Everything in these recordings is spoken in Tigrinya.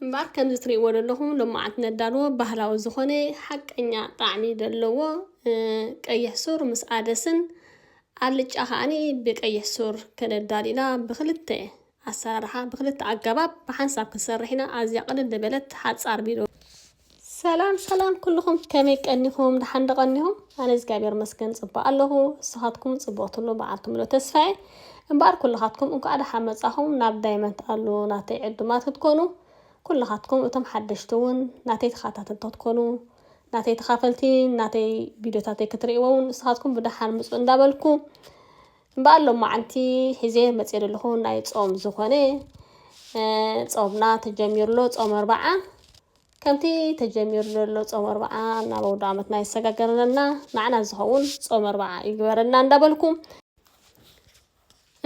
እምበኣር ከምዚ ትርእይዎ ዘለኹም ሎማዓንቲ ነዳልዎ ባህላዊ ዝኾነ ሓቀኛ ጣዕሚ ዘለዎ ቀይሕ ሱር ምስ ኣደስን ኣልጫ ከዓኒ ብቀይሕ ሱር ከነዳል ኢና ብክልተ ኣሰራርሓ ብክልተ ኣገባብ ብሓንሳብ ክንሰርሕ ኢና ኣዝያ ቅልል ዝበለት ሓጻር ቢዶ ሰላም ሰላም ኩልኹም ከመይ ቀኒኹም ደሓን ዶ ቀኒኹም? ኣነ እግዚኣብሔር መስገን ጽቡቅ ኣለኹ ንስኻትኩም ጽቡቅ ትብሉ በዓል ትምሎ ተስፋዬ እምበኣር ኩልኻትኩም እንኳዕ ደሓን መጻኹም ናብ ዳይመንት ኣሉ ናተይ ዕዱማት ክትኮኑ ኩልኻትኩም እቶም ሓደሽቲ እውን ናተይ ተኻታተልቲ ክትኮኑ ናተይ ተኻፈልቲ ናተይ ቪድዮታተይ ክትርእይዎ እውን ንስኻትኩም ብደሓን ምጹ እንዳበልኩ እምበኣር ሎማዓንቲ ሒዜ መፅየ ዘለኹ ናይ ፆም ዝኾነ ፆምና ተጀሚሩ ኣሎ ፆም ኣርባዓ ከምቲ ተጀሚሩ ዘሎ ፆም ኣርባዓ ናብ ኣውደ ዓመትና የሰጋገረና ንዓና ዝኸውን ፆም ኣርባዓ ይግበረና እንዳበልኩ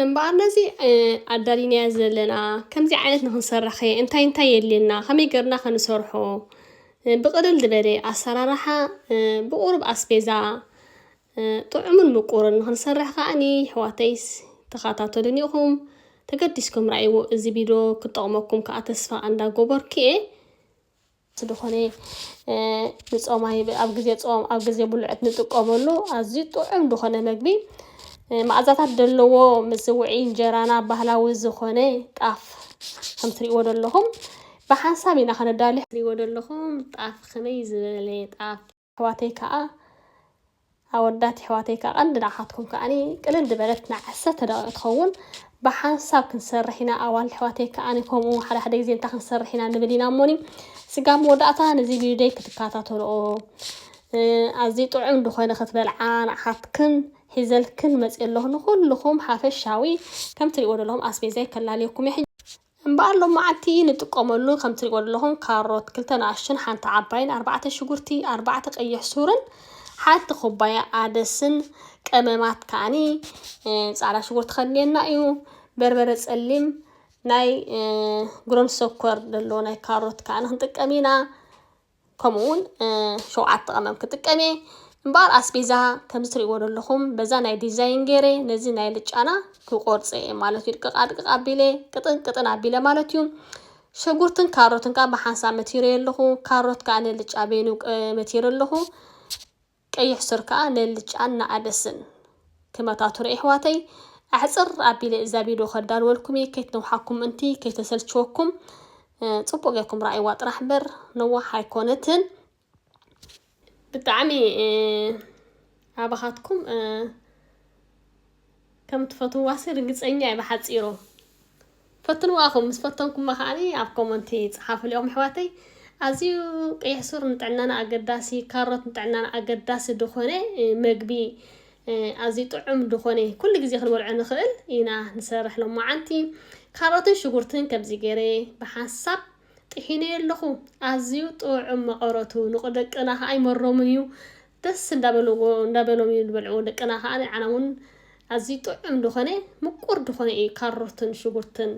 እምበኣር ነዚ ኣዳሊናዮ ዘለና ከምዚ ዓይነት ንክንሰርሕ ከ እንታይ እንታይ የድልየና ከመይ ገርና ከንሰርሖ ብቕልል ዝበለ ኣሰራርሓ ብቑሩብ ኣስቤዛ ጥዑምን ምቁርን ንክንሰርሕ ከኣ ይሕዋተይስ ተካታተሉኒ ኢኩም ተገዲስኩም ራኣይዎ እዚ ቢዶ ክጠቅመኩም ከኣ ተስፋ ኣንዳ ጎበርኩ እየ። ስድኾነ ንጾማይ ኣብ ግዜ ጾም ኣብ ግዜ ብሉዕት ንጥቀመሉ ኣዝዩ ጥዑም ድኾነ መግቢ መኣዛታት ደለዎ ምዝውዒ እንጀራና ባህላዊ ዝኾነ ጣፍ ከም ትሪእዎ ደለኹም ብሓንሳብ ኢና ከነዳሉ ትሪእዎ ደለኹም ጣፍ ከመይ ዝበለ ጣፍ ኣሕዋተይ ከኣ ኣወዳት የሕዋተይ ከኣ ቀንዲ ንዓኻትኩም ከኣ ቅልል ድበለት ናይ ዓሰርተ ደቂቅ ትኸውን ብሓንሳብ ክንሰርሕ ኢና ኣዋልድ ኣሕዋተይ ከኣ ከምኡ ሓደ ሓደ ግዜ እንታይ ክንሰርሕ ኢና ንብል ኢና እሞኒ ስጋብ መወዳእታ ነዚ ቪድዮይ ክትከታተልኦ ኣዝዩ ጥዑም ዝኾነ ክትበልዓ ንዓኻትክን ሒዘልክን መጽእ ኣለኹ ንኹልኹም ሓፈሻዊ ከም ትሪእዎ ዘለኹም ኣስቤዛይ ከላልየኩም እየ እምበኣር ሎማዓንቲ ንጥቀመሉ ከም ትሪእዎ ዘለኹም ካሮት ክልተ ንኣሽቱን ሓንቲ ዓባይን ኣርባዕተ ሽጉርቲ ኣርባዕተ ቀይሕ ሱርን ሓንቲ ኩባያ ኣደስን ቀመማት ከዓኒ ፃዕዳ ሽጉርቲ ከድልየና እዩ በርበረ ፀሊም ናይ ጉረምሶ ኮር ደሎ ናይ ካሮት ከዓኒ ክንጥቀም ኢና ከምኡ ውን ሸውዓተ ቀመም ክጥቀም እየ እምበኣር ኣስቤዛ ከምዚ ትሪእዎ ዘለኹም በዛ ናይ ዲዛይን ገይረ ነዚ ናይ ልጫና ክቆርፀ እየ ማለት እዩ ድቅቅ ኣድቅቅ ኣቢለ ቅጥን ቅጥን ኣቢለ ማለት እዩ ሸጉርትን ካሮትን ከዓ ብሓንሳብ መቲረ ኣለኹ ካሮት ከዓ ንልጫ በይኑ መቲረ ኣለኹ ቀይሕ ሱር ከኣ ነልጫን ንኣደስን ክመታቱሩ ኤሕዋተይ ኣሕጽር ኣቢለ እዛ ቪዶ ከዳልወልኩም እየ ከይትነውሓኩም ምእንቲ ከይተሰልችወኩም ጽቡቅ ጌርኩም ረኣይዋ ጥራሕ እምበር ነዋሕ ኣይኮነትን ብጣዕሚ ኣባኻትኩም ከም ትፈትዋሲ ርግጸኛ እየ ብሓጺሩ ፈትንዋ እኹም ምስ ፈተንኩማ ከኣ ኣብ ኮመንቲ ጽሓፉሊኦም ኣሕዋተይ ኣዝዩ ቀይሕ ሱር ንጥዕናና ኣገዳሲ ካሮት ንጥዕናና ኣገዳሲ ድኾነ መግቢ ኣዝዩ ጥዑም ድኾነ ኩሉ ግዜ ክንበልዖ ንኽእል ኢና ንሰርሕ ሎማዓንቲ ካሮትን ሽጉርትን ከምዚ ገይረ ብሓንሳብ ጥሒነዮ ኣለኹ ኣዝዩ ጥዑም መቐረቱ ንቕደቅና ከኣ ይመሮምን እዩ ደስ እንዳበልዎ እንዳበሎም እዮም ዝበልዕዎ ደቅና ከኣ ንዓና ውን ኣዝዩ ጥዑም ድኾነ ምቁር ድኾነ እዩ ካሮትን ሽጉርትን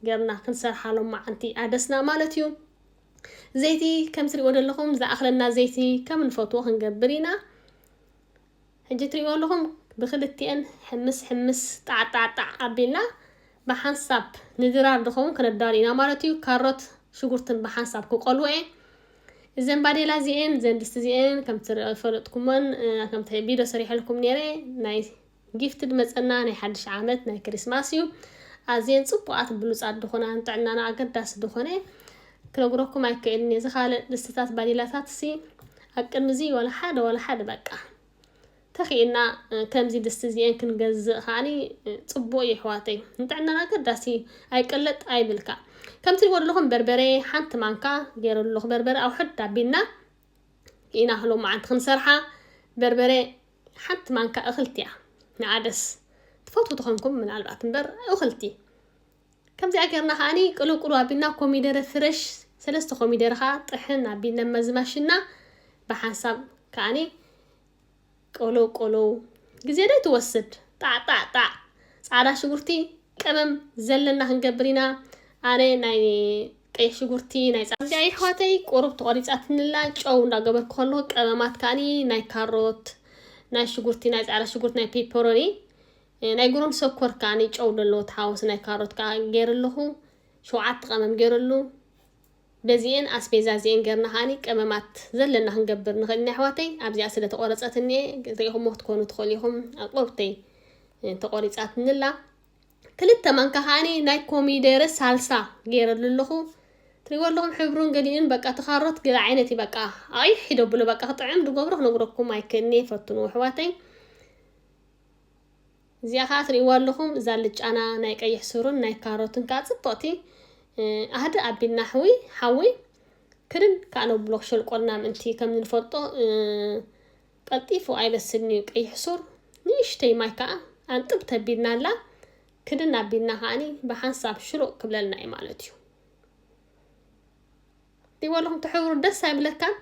ገርና ክንሰርሓ ሎማዓንቲ ኣደስና ማለት እዩ ዘይቲ ከም ትሪእዎ ዘለኹም ዝኣኽለና ዘይቲ ከም ንፈትዎ ክንገብር ኢና ሕጂ ትሪእዎ ኣለኹም ብክልቲኤን ሕምስ ሕምስ ጣዕጣዕጣዕ ኣቢልና ብሓንሳብ ንድራር ድኸውን ክነዳሉ ኢና ማለት እዩ ካሮት ሽጉርትን ብሓንሳብ ክቆልዎ እየ እዘን ባዴላ እዚኤን እዘን ድስቲ እዚኤን ከምቲ ዝፈለጥኩሞን ከምቲ ቪድዮ ሰሪሐልኩም ነይረ ናይ ጊፍትድ መጸና ናይ ሓድሽ ዓመት ናይ ክሪስማስ እዩ ኣዝየን ጽቡቓት ብሉጻት ድኾና ንጥዕናና ኣገዳሲ ድኾነ ክነግረኩም ኣይክእልን እየ ዝካልእ ድስትታት ባዴላታት ሲ ኣብ ቅድሚ እዚ ዋላ ሓደ ዋላ ሓደ በቃ ተኺእልና ከምዚ ድስቲ እዚኤን ክንገዝእ ከኣኒ ጽቡቅ እዩ ኣሕዋተይ ንጥዕናና ኣገዳሲ ኣይ ቅልጥ ኣይ ብልካ ከምቲ ልዎ ዘለኹም በርበሬ ሓንቲ ማንካ ገይረሉ ኣለኹ በርበረ ኣውሕድ ኣቢልና ኢና ሎ መዓንቲ ክንሰርሓ በርበሬ ሓንቲ ማንካ እኽልቲ እያ ንኣደስ ትፈትው ተኾንኩም ምናልባት እምበር እኽልቲ ከምዚኣ ጌርና ከኣኒ ቅልቅሉ ኣቢልና ኮሚደረ ፍረሽ ሰለስተ ኮሚደረ ከዓ ጥሕን ኣቢልና መዝማሽና ብሓንሳብ ከኣኒ ቅልው ቅልው ግዜ ዶ ትወስድ ጣዕ ጣዕ ጣዕ ጻዕዳ ሽጉርቲ ቀመም ዘለና ክንገብር ኢና ኣነ ናይ ቀይሕ ሽጉርቲ ናይ ጻ እንዲያ ይሕዋተይ ቁሩብ ተቆሪጻትንላ ጨው እንዳገበርኩ ከለኹ ቀመማት ከኣኒ ናይ ካሮት ናይ ሽጉርቲ ናይ ጻዕዳ ሽጉርቲ ናይ ፔፐሮኒ ናይ ጉሮን ሰኮር ከኣኒ ጨው ደለዎ ተሓወስ ናይ ካሮት ከኣ ገይርለኹ ሸውዓተ ቀመም ገይርሉ በዚኤን ኣስቤዛ እዚኤን ገርና ከኣ ቀመማት ዘለና ክንገብር ንክእል ኢና የሕዋተይ ኣብዚኣ ስለ ተቆረጸትኒ እየ ሪኢኩሞ ክትኮኑ ትክእሉ ኢኩም ኣቁርብተይ ተቆሪጻትኒ ኣላ ክልተ ማንካ ከኣ ናይ ኮሚደረ ሳልሳ ገይረሉ ኣለኩ ትሪእዎ ኣለኹም ሕብሩን ገሊኡን በቃ ተካሮት ገለ ዓይነት እዩ በቃ ኣቂሕ ሒደብሎ በቃ ክጥዕም ድገብሮ ክነግረኩም ኣይክእልኒ ፈትኑ ኣሕዋተይ እዚኣ ከኣ ትሪእዋ ኣለኹም እዛ ኣልጫና ናይ ቀይሕ ሱርን ናይ ካሮትን ከኣ ጽብቕቲ ኣህድእ ኣቢልና ኣሕዊ ሓዊ ክድን ከኣ ነብሎ ክሸልቆልና ምእንቲ ከም ንፈልጦ ቀልጢፉ ኣይበስልን እዩ ቀይሕ ሱር ንእሽተይ ማይ ከኣ ኣንጥብ ተቢልና ኣላ ክድን ኣቢልና ከኣኒ ብሓንሳብ ሽሉቕ ክብለልና እዩ ማለት እዩ ይበልኹም ትሕብሩ ደስ ኣይብለካን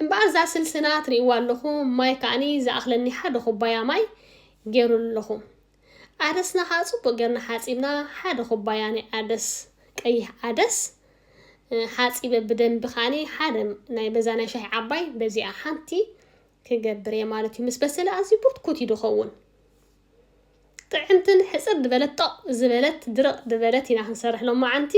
እምበኣር እዛ ስልስና ትርእይዋ ኣለኹ ማይ ከዓኒ ዝኣኽለኒ ሓደ ኩባያ ማይ ገይሩ ኣለኹ ዓደስና ከዓ ፅቡቅ ጌርና ሓፂብና ሓደ ኩባያ ናይ ዓደስ ቀይሕ ዓደስ ሓፂበ ብደንቢ ከዓኒ ሓደ ናይ በዛ ናይ ሻሂ ዓባይ በዚኣ ሓንቲ ክገብር እየ ማለት እዩ ምስ በሰለ ኣዝዩ ብርትኩት እዩ ድኸውን ጥዕምትን ሕጽር ድበለት ጦቕ ዝበለት ድርቕ ድበለት ኢና ክንሰርሕ ሎማዓንቲ።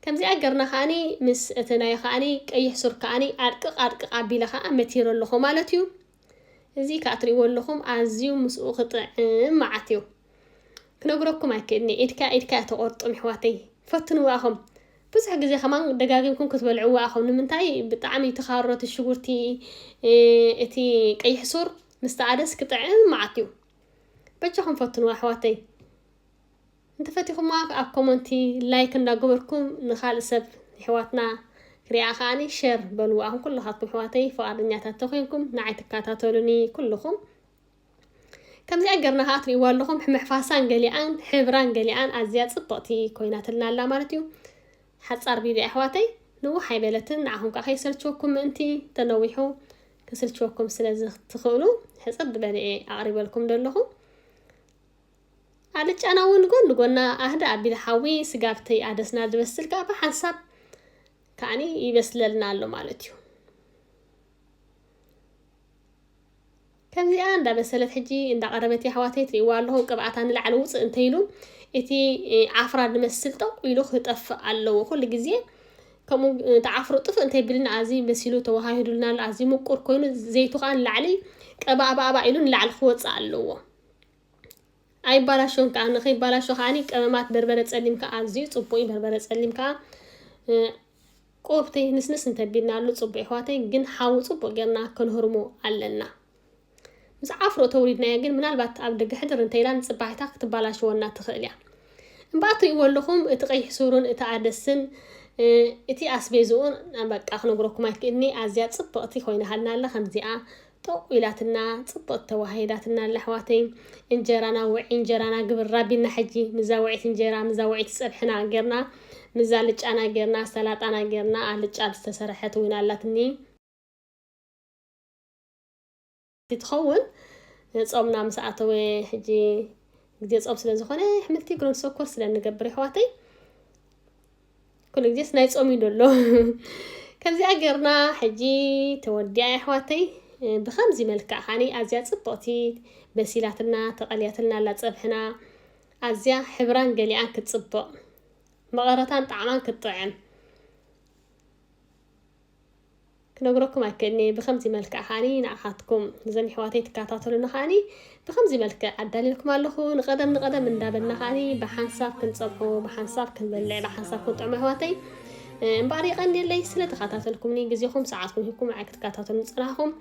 ከምዚኣ ገርና ከኣኒ ምስ እቲ ናይ ከኣኒ ቀይሕ ሱር ከኣኒ ኣድቅቕ ኣድቅቕ ኣቢለ ከኣ መቲረ ኣለኹ ማለት እዩ። እዚ ከኣ ትርእይዎ ኣለኹም ኣዝዩ ምስኡ ክጥዕም መዓት እዩ። ክነግረኩም ኣይክእልኒ ኢድካ ኢድካ እያ ተቖርጥም ኣሕዋተይ ፈትንዋ ኣኹም። ብዙሕ ግዜ ከማን ደጋጊምኩም ክትበልዕዎ ኣኹም ንምንታይ ብጣዕሚ እቲ ካሮት ሽጉርቲ እቲ ቀይሕ ሱር ምስ ጸዓደስ ክጥዕም መዓት ዩ በጃኹም ፈትንዋ ኣሕዋተይ እንተፈቲኹማ ኣብ ኮመንቲ ላይክ እንዳገበርኩም ንኻልእ ሰብ ይሕዋትና ክሪኣ ከዓኒ ሸር በልዋ ኣኹም ኩልኻትኩም ኣሕዋተይ ፍቓደኛታት ተኮንኩም ንዓይ ትከታተሉኒ ኩልኹም ከምዚኣ ገርና ከዓ ትሪእዋ ኣለኹም ሕምሕፋሳን ገሊኣን ሕብራን ገሊኣን ኣዝያ ፅብቕቲ ኮይናትልና ኣላ ማለት እዩ ሓፃር ቪድዮ ኣሕዋተይ ንውሕ ኣይበለትን ንዓኹም ከዓ ከይሰልችወኩም ምእንቲ ተነዊሑ ክስልችወኩም ስለዝትኽእሉ ሕጽር ዝበለ እየ ኣቕሪበልኩም ዘለኹ ኣልጫና እውን ጎን ንጎና ኣህደ ኣቢል ሓዊ ስጋብተይ ኣደስና ዝበስል ከዓ ብሓንሳብ ከዓኒ ይበስለልና ኣሎ ማለት እዩ ከምዚኣ እንዳበሰለት ሕጂ እንዳቐረበት የሕዋተይ ትሪእዋ ኣለኹም ቅብኣታ ንላዕሊ ውፅእ እንተይሉ እቲ ዓፍራ ዝመስል ጠቕ ኢሉ ክጠፍእ ኣለዎ ኩሉ ግዜ ከምኡ ንትዓፍሩ ጥፍእ እንተይብልና ኣዝዪ በሲሉ ተዋሃሂዱልና ኣሎ ኣዝዪ ምቁር ኮይኑ ዘይቱ ከዓ ንላዕሊ ቀባእባእባ ኢሉ ንላዕሊ ክወፅእ ኣለዎ ኣይባላሾን ከዓ ንከይባላሾ ከዓኒ ቀመማት በርበረ ፀሊም ከዓ ኣዝዩ ፅቡቅ እዩ በርበረ ፀሊም ከዓ ቆብተይ ንስንስ እንተቢልናሉ ፅቡቅ ይሕዋተይ ግን ሓዊ ፅቡቅ ጌርና ክንህርሞ ኣለና ምስ ዓፍሮ ተውሊድናያ ግን ምናልባት ኣብ ደገ ሕድር እንተኢላ ንጽባሒታ ክትባላሽወና ትኽእል እያ። እምበኣር ትርእይዎ ኣለኹም እቲ ቀይሕ ሱርን እቲ ኣደስን እቲ ኣስቤዝኡን በቃ ክነግረኩም ኣይክእልኒ ኣዝያ ጽብቕቲ ኮይናሃልና ኣላ ከምዚኣ ጠቑ ኢላትና ጽብቕቲ ተዋሂዳትና ኣላ ኣሕዋተይ እንጀራና ውዒ እንጀራና ግብር ራቢና ሕጂ ምዛ ውዒት እንጀራ ምዛ ውዒት ጸብሕና ጌርና ምዛ ልጫና ጌርና ሰላጣና ጌርና ኣልጫ ዝተሰርሐት እውን ኣላትኒ ትኸውን ጾምና ምስ ኣተወ ሕጂ ግዜ ጾም ስለ ዝኾነ ኣሕምልቲ ግሮን ሶኮር ስለ ንገብር ይሕዋተይ ኩሉ ግዜስ ናይ ጾም እዩ ደሎ ከምዚኣ ገርና ሕጂ ተወዲያ ኣሕዋተይ ብከምዚ መልክዕ ካኒ ኣዝያ ጽብቕቲ በሲላትና ተቐልያትና ኣላ ጸብሕና ኣዝያ ሕብራን ገሊኣን ክትጽብቕ መቐረታን ጣዕማን ክትጥዕም ክነግረኩም ኣይክእልን'የ ብከምዚ መልክዕ ከኣ ንዓኻትኩም ንዘን የሕዋተይ ትከታተሉና ከኣ ብከምዚ መልክዕ ኣዳልየልኩም ኣለኹ ንቀደም ንቀደም እንዳበልና ከኣ ብሓንሳብ ክንጸብሖ ብሓንሳብ ክንበልዕ ብሓንሳብ ክንጥዕሞ የሕዋተይ እምበኣር የቀንየለይ ስለ ተኸታተልኩምኒ ግዜኹም ሰዓትኩም ሂብኩም ንዓይ ክትከታተሉ ዝጸናሕኹም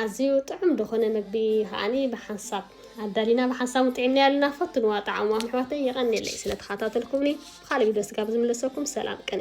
ኣዝዩ ጥዑም ድኾነ ምግቢ ከዓኒ ብሓንሳብ ኣዳሊና ብሓንሳብ ጥዒምናዮ ኣለና ፈትንዋ ጣዕምዋ ኣሕዋተይ የቐኔለይ ስለተኸታተልኩምኒ ብኻልእ ቪድዮ ስጋብ ዝምለሰኩም ሰላም ቅኔ